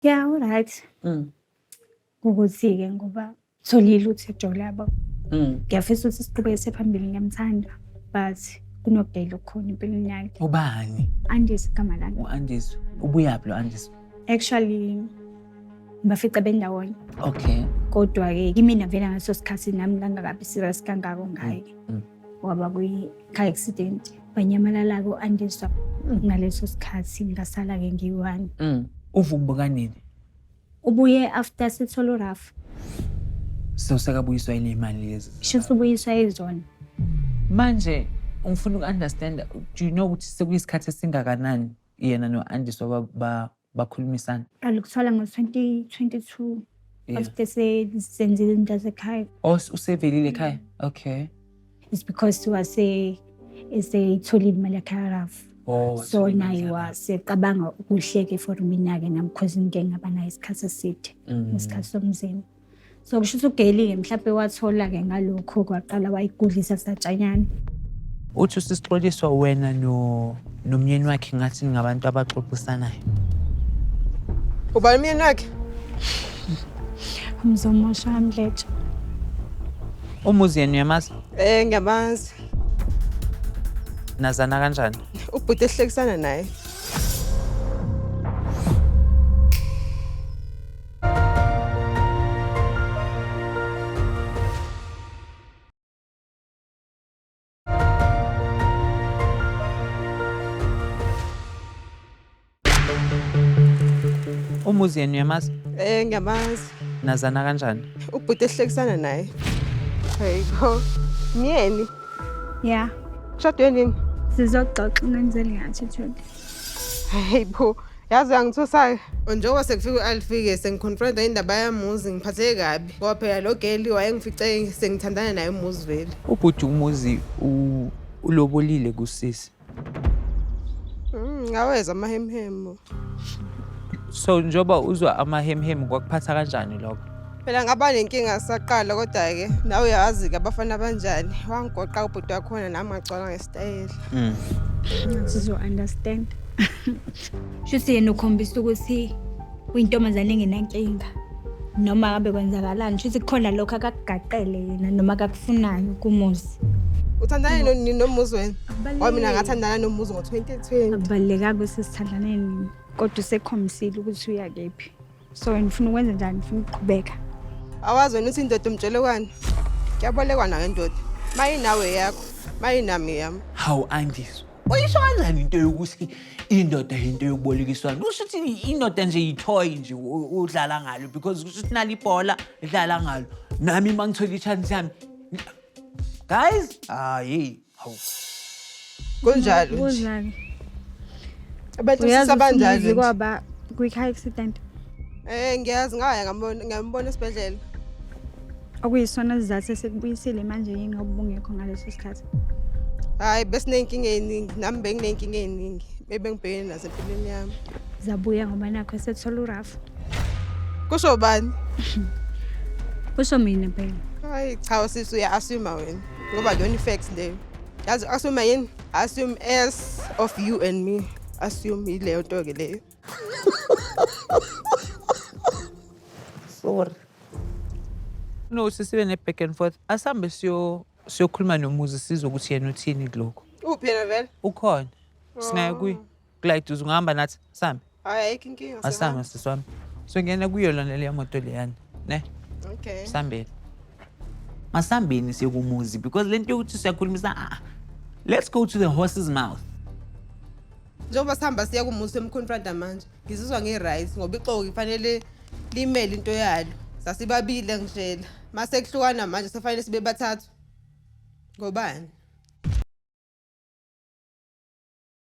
ya uright mm. ukuthi-ke ngoba tholile ukuthi ejole yabo mm. ngiyafisa ukuthi siqhubeke sephambili ngiyamthanda but kunobhele okukhona empilweni yakhe ubani andisi igama lami u-andisi ubuyaphi lo andisi actually ngibafice bendawonye okay kodwa-ke kimina vele ngaleso sikhathi nami ngangakabi serious kangako ngaye mm, waba kwi-car accident wanyamalala-ke u-andiswa ngaleso sikhathi ngasala-ke ngiyi-one Mm. Uva ukubuka nini? ubuye after sithole urafu So sekabuyiswa yini imali lezi? sho usubuyiswa izona Manje ngifuna uku-understand, do you know ukuthi sekuyisikhathi esingakanani yena no-Andiswa ba- ba- bakhulumisana alikuthola ngo-2022 Yeah. after se- senzile into yasekhaya o Oh, usevelile ekhaya okay it's because wase eseyitholile imali yakhe yarafu oh so naye wasecabanga ukuhleke for mina-ke nam because into engaba nayo isikhathi eside Mm. isikhathi somzimba so kusho ukuthi ugelile mhlawumbe wathola-ke ngalokho kwaqala wayigudlisa satshanyana uthi usixoliswa wena nomyeni wakhe ngathi ningabantu abaxoxisanayo uba umyeni wakhe mzomosha mdletsha umuzi yena uyamazi um eh, ngiyamazi nazana kanjani ubhuti esihlekisana naye umuzi yenu uyamazi Eh ngiyamazi. nazana kanjani Ubhuti ehlekisana naye. Hey bo. Myeni. Ya, Shadwe nini? sizoxoxa ngenzeli ngathi Jodi. Hey bo. yazi uyangithusa-ke njengoba sekufika u-alfike sengiconfronta indaba yamuzi ngiphatheke kabi ngoba phela lo geli wayengifice sengithandana naye umuzi vele ubhuti umuzi ulobolile kusisi mm, ngaweza amahemhemu so njengoba uzwa amahemhemu kwakuphatha kanjani lokho phela ngaba nenkinga saqala kodwa-ke nawe uyawazi-ke abafana abanjani wangigoqa ubhuti wakhona nami ngagcwala ngesitayela mm. sizo-understand shuthi yena ukhombisa ukuthi uyintombazane engenankinga noma kabe kwenzakalani shuthi kukhona lokho akakugaqele yena noma akakufunayo kumuzi uthandane nini nomuzi wena wa mina ngathandana nomuzi ngo-2020 akubalulekanga ukuthi sithandane nini kodwa usekhombisile ukuthi uyakephi so wena ufuna ukwenza njani ufuna ukuqhubeka awazi wena uthi indoda umtshelekwane kuyabolekwa nayo indoda mayinawe yakho mayinami yami hawu angizwa uyisho kanjani into yokuthi indoda yinto yokubolekiswana kusho ukuthi indoda nje yithoy nje u- udlala ngalo because kusho ukuthi nali ibhola idlala ngalo nami uma ngithola i-chance yami guys hayi Hawu. Kunjalo nje. Uzake. Abantu Uyazi sisabanjalo. usumizi nje. kwaba kwi-car accident Eh ngiyazi ngaya ngambona ngambona esibhedlela. okuyisona sizathu esikubuyisile manje yini ngoba ubungekho ngaleso sikhathi Hayi besinenkinga eningi nami benginenkinga eningi bebengibhekene nazo empilweni yami. zabuya ngoba nakho esethola urafu Kusho bani? kusho mina phela Hayi cha usisi uya assume wena. ngoba lona i-facts leyo yazi assume yini assume as of you and me assume yileyo nto-ke leyo sorry no sisibe ne-back and forth asihambe siyo siyokhuluma nomuzi sizwe ukuthi yena uthini kulokho uphi yena vele ukhona singaye kuye Clyde uze ungahamba nathi sambe Hayi ayikho inkinga. asambe sisi wami songena kuyo lona leya moto leyana ne Okay. sambeni masambeni sekumuzi because le nto yokuthi siyakhulumisa ah, let's go to the horse's mouth Njengoba sihamba siya kumuzi emconfronta manje. Ngizizwa ngi-right ngoba ixoki kufanele limele into yalo. Sasibabile ngishela. Mase kuhlukana manje sefanele sibe bathathu. Ngobani?